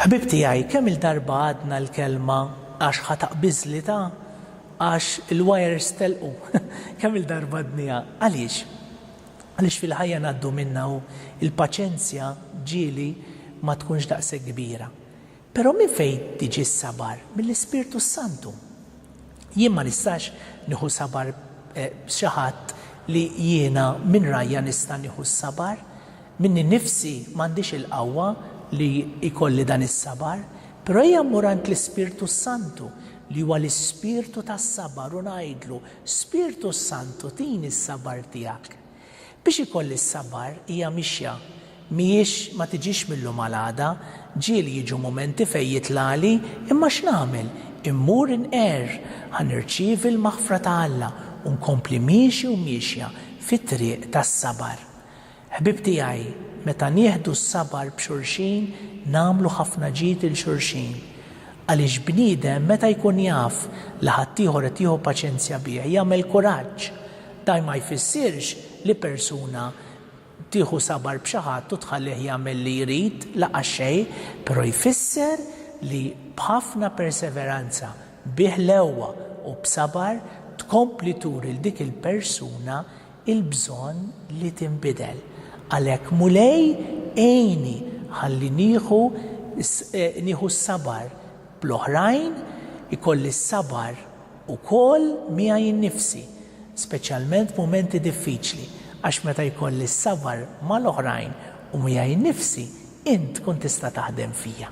Ħbieb tiegħi, kemm il-darba għadna l-kelma għax ħa taqbiżli ta' għax il-wires telqu. Kemm il-darba għadniha. Għaliex? Għaliex fil-ħajja ngħaddu minnha u l-paċenzja ġieli ma tkunx daqshekk kbira. Però minn fejn tiġi s-sabar? Mill-Ispirtu s-Santu. Jien ma nistax nieħu sabar b'xi ħadd li jiena minn rajja nista' nieħu s-sabar. Minni nnifsi m'għandix il-qawwa li jkolli dan is-sabar. Però ejja mmur għand l-Ispirtu s-Santu li huwa l-Ispirtu tas-sabar u ngħidlu, Spirtu s-Santu tini s-sabar tiegħek. Biex ikolli s-sabar hija mixja. Mhijiex ma tiġix mil-lum għal għada. Ġieli jiġu mumenti fejn jitlagħli, imma x'nagħmel? Immur inqerr. Ħa nirċievi l-maħfra ta' Alla u nkompli miexi u miexja fit-triq tas-sabar. Ħbieb tiegħi, meta nieħdu s-sabar b'xulxin nagħmlu ħafna ġid 'il xulxin. Għaliex bniedem meta jkun jaf li ħaddieħor qed jieħu paċenzja bih jagħmel kuraġġ. Dan ma jfissirx li persuna tieħu sabar b'xi ħadd u tħallih jagħmel li jrid, laqas xejn, però jfisser li b'ħafna perseveranza, bi ħlewwa u b'sabar tkompli turi 'l dik il-persuna il-bżonn li tinbidel. Għalhekk, Mulej, għinni ħalli nieħu nieħu s-sabar bl-oħrajn, ikolli s-sabar ukoll miegħi nnifsi, speċjalment f'mumenti diffiċli, għax meta jkolli s-sabar mal-oħrajn u miegħi nnifsi, int tkun tista' taħdem fija.